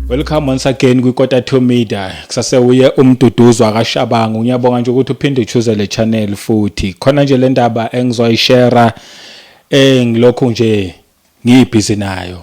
Welcome once again kwiKota to Media. Kusase uye umduduzo akashabangu. Ngiyabonga nje ukuthi uphinde uchoose le channel futhi. Khona nje le ndaba engizoyishare eh ngilokhu nje ngiyibhizi nayo.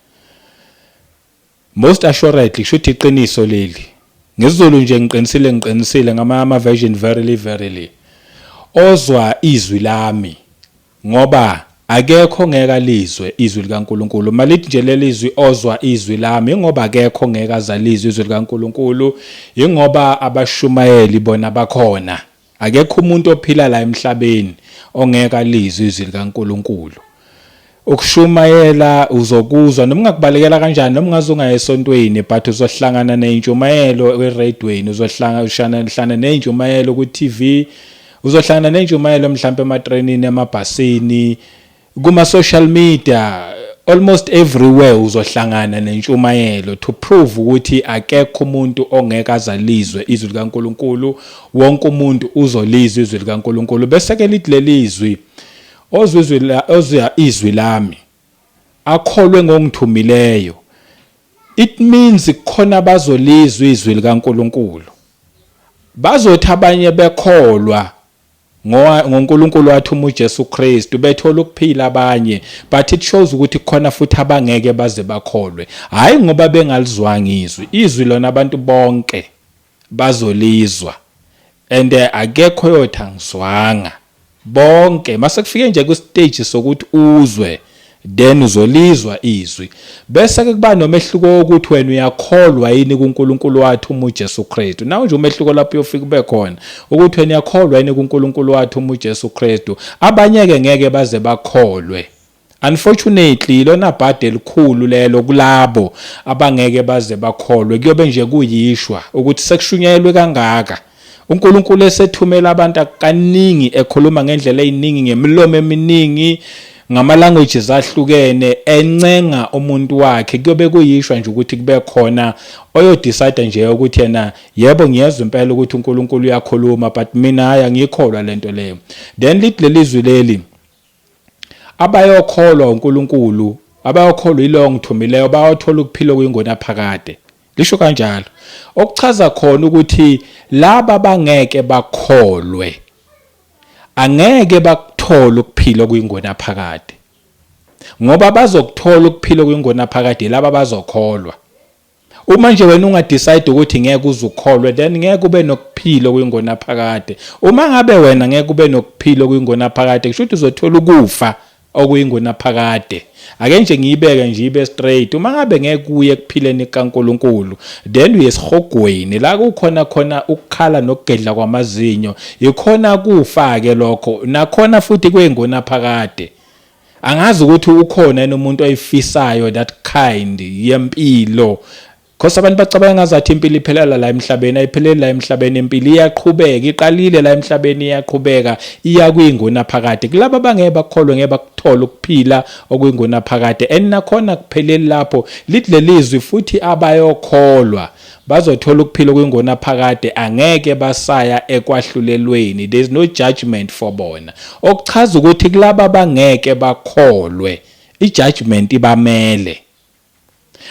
Most assuredly shuthi iqiniso leli. NgesiZulu nje ngiqinisile ngiqinisile ngamanye ama version verily verily. Ozwa izwi lami ngoba akekho ngeke alizwe izwi likaNkuluNkulu. Malithi nje leli zwi ozwa izwi lami ngoba akekho ngeke azalizwe izwi likaNkuluNkulu. Ingoba abashumayeli bona bakhona. Akekho umuntu ophila la emhlabeni ongeke alizwe izwi likaNkulunkulu. Ukushumayela uzokuzwa noma ungakubalekela kanjani noma ungaze ungaya esontweni but uzohlangana neyintshumayelo eradweni uzohlangana neyintshumayelo ku-TV uzohlangana neyintshumayelo mhlawumbe ematrenini emabhasini Kuma social media almost everywhere uzohlangana nentshumayelo to prove ukuthi akekho umuntu ongeke azalizwe izwi likaNkuluNkulu wonke umuntu uzolizwa izwi likaNkuluNkulu bese ke lithi lelizwi ozwa izwi la ozwa izwi lami akholwe ngongithumileyo it means khona bazolizwa izwi likaNkuluNkulu bazothi abanye bekholwa ngoNkulunkulu wathuma uJesu Kristu bethola ukuphila abanye but it shows ukuthi khona futhi abangeke baze bakholwe hayi ngoba bengalizwanga izwi izwi lona abantu bonke bazolizwa and eh, akekho yothi angizwanga bonke masekufike nje kwistage sokuthi uzwe Then uzolizwa izwi. Bese ke kuba nomehluko wokuthi wena uyakholwa yini kuNkulunkulu wathuma uJesu Kristu. Nawo nje umehluko lapho uyofika ube khona ukuthi wena uyakholwa yini kuNkulunkulu wathuma uJesu Kristu. Abanye ke ngeke baze bakholwe. Unfortunately lona bhadi elikhulu lelo kulabo abangeke baze bakholwe kuyobe nje kuyishwa ukuthi sekushunyayelwe kangaka. UNkulunkulu esethumela abantu kaningi ekhuluma ngendlela eziningi ngemilomo eminingi ngama languages ahlukene encenga umuntu wakhe kuyobe kuyishwa nje ukuthi kube khona oyodecide nje ukuthi yena yebo ngiyezwa impela ukuthi uNkulunkulu uyakhuluma but mina hayi angikholwa lento leyo then lithi lelizwi leli Abayokholwa uNkulunkulu, abayokholwa yilowo ongithumileyo bayothola ukuphila okuyingunaphakade. Lisho kanjalo. Okuchaza khona ukuthi laba bangeke bakholwe angeke bakuthole ukuphila okuyingunaphakade. Ngoba bazokuthola ukuphila okuyingunaphakade laba bazokholwa. Uma nje wena unga decide ukuthi ngeke uzukholwe then ngeke ube nokuphila kuyingona phakade. Uma ngabe wena ngeke ube nokuphila kuyingona phakade kusho ukuthi uzothola ukufa okuyingona phakade. Ake nje ngiyibeke nje ibe straight. Uma ngabe ngeke kuye kuphileni kaNkuluNkulu then uyesihogweni la kukhona khona ukukhala nokugedla kwamazinyo. Yikhona kufa ke lokho. Nakhona futhi kuyingona phakade. angazi ukuthi ukhona yini umuntu oyifisayo that kind yempilo Khosa abantu bacabanga ngazathi impilo iphelela la emhlabeni ayipheleli la emhlabeni impilo iyaqhubeka iqalile la emhlabeni iyaqhubeka iya kuyinguna phakade kulabo bangeke bakholwe ngeke bakuthola ukuphila okuyinguna phakade and nakhona kupheleli lapho lithi lelizwi futhi abayokholwa Bazothola ukuphila okungonaphakade angeke basaya ekwahlulelweni there's no judgment for bona. Okuchaza ukuthi kulabo abangeke bakholwe ijudgment ibamele.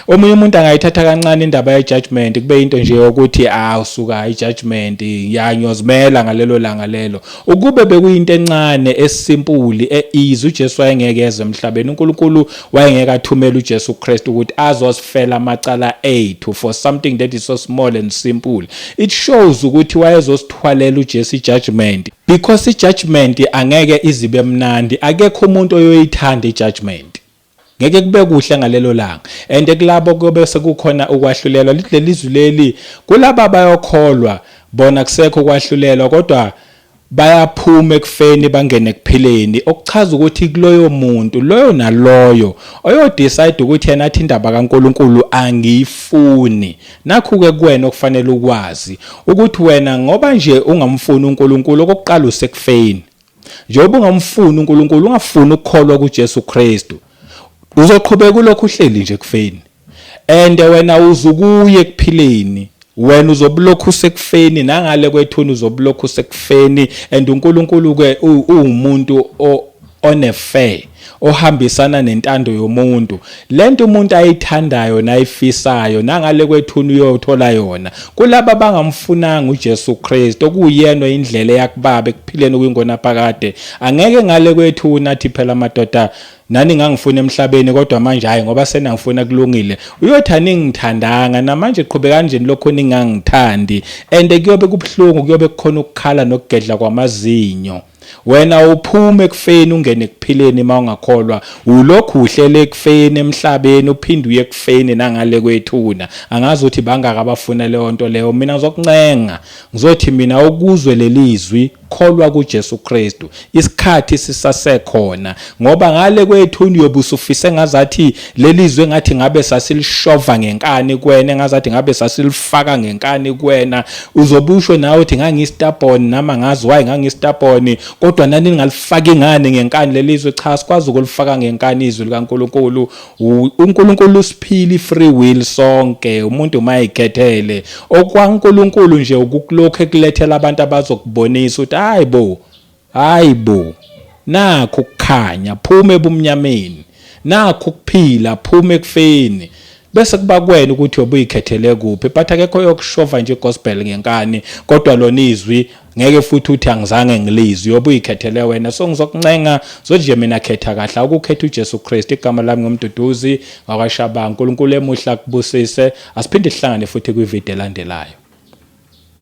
Omunye umuntu angayithatha kancane indaba ye judgment kube into nje yokuthi ah usuka i judgment ya ngiyozimela ngalelo langa lelo. Ukube bekuyinto encane, esimpuli, e-easy, uJesu wayengeke eze emhlabeni. UNkulunkulu wayengeke athumele uJesu Kristu ukuthi azosifela amacala ethu for something that is so small and simple. It shows ukuthi wayezosithwalela uJesu i-judgment because i-judgment angeke izibe mnandi. Akekho umuntu oyoyithanda i-judgment. Ngeke kube kuhle ngalelo langa. And kulabo kuyobe sekukhona ukwahlulelwa leli zwi leli kulaba bayokholwa bona kusekho ukwahlulelwa kodwa bayaphuma ekufeni bangene ekuphileni okuchaza ukuthi kuloyo muntu loyo naloyo oyodecide ukuthi yena athi indaba kaNkuluNkulu angiyifuni nakhu ke kuwena okufanele ukwazi ukuthi wena ngoba nje ungamfuni uNkuluNkulu okokuqala usekufeni Njengoba ungamfuni uNkulunkulu, ungafuni ukukholwa kuJesu Kristu, uzoqhubeka ulokhu uhleli nje ekufeni. And wena uzukuye ekuphileni. Wena uzobulokhu usekufeni nangale kwethuna uzobulokhu usekufeni and uNkulunkulu ke uwumuntu one fair. ohambisana nentando yomuntu lento umuntu ayithandayo nayifisayo nangale kwethuna uyothola yona kulabo abangamfunanga uJesu Kristu okuyena indlela yakubaba ekuphileni kwingona phakade angeke ngale kwethuna athi phela madoda nani ngangifuna emhlabeni kodwa manje hayi ngoba senangifuna kulungile uyothi aningithandanga namanje qhube kanjeni lokho ningangithandi and kuyobe kubuhlungu kuyobe kukhona ukukhala nokugedla kwamazinyo Wena uphuma ekufeni ungene ekuphileni mawungakholwa ulokhu uhlela ekufeni emhlabeni uphinde uye ekufeni nangale kwethuna angazi ukuthi bangaka abafuna leyo nto leyo mina ngizokuncenga ngizothi mina ukuzwe lelizwi kholwa kuJesu Kristu isikhathi sisasekhona Ngoba ngale kwethu uyobe usufise ngazathi lelizwe ngathi ngabe sasilishova ngenkani kwena ngazathi ngabe sasilifaka ngenkani kwena uzobusho nawe uthi ngangistabon nama ngazi why ngangistabon kodwa nani ningalifaki ngani ngenkani lelizwe cha sikwazi ukulifaka ngenkani izwi likaNkuluNkulu uNkuluNkulu usiphili free will sonke umuntu mayikhethele okwaNkuluNkulu nje ukukulokho ekulethela abantu abazokubonisa ukuthi hayibo Hhayi bo! Nakhu ukukhanya, phuma ebumnyameni. Nakhu ukuphila, phuma ekufeni. Bese kuba kuwena ukuthi uyobe uyikhethele kuphi, but akekho oyokushova nje igospel ngenkani, kodwa lona izwi ngeke futhi uthi angizange ngilizwe, uyobe uyikhethele wena. So ngizokuncenga, zothi nje mina khetha kahle, awukukhethe uJesu Kristu. Igama lami nguMduduzi wakwaShabangu. UNkulunkulu emuhle akubusise. Asiphinde sihlangane futhi kwivideo elandelayo.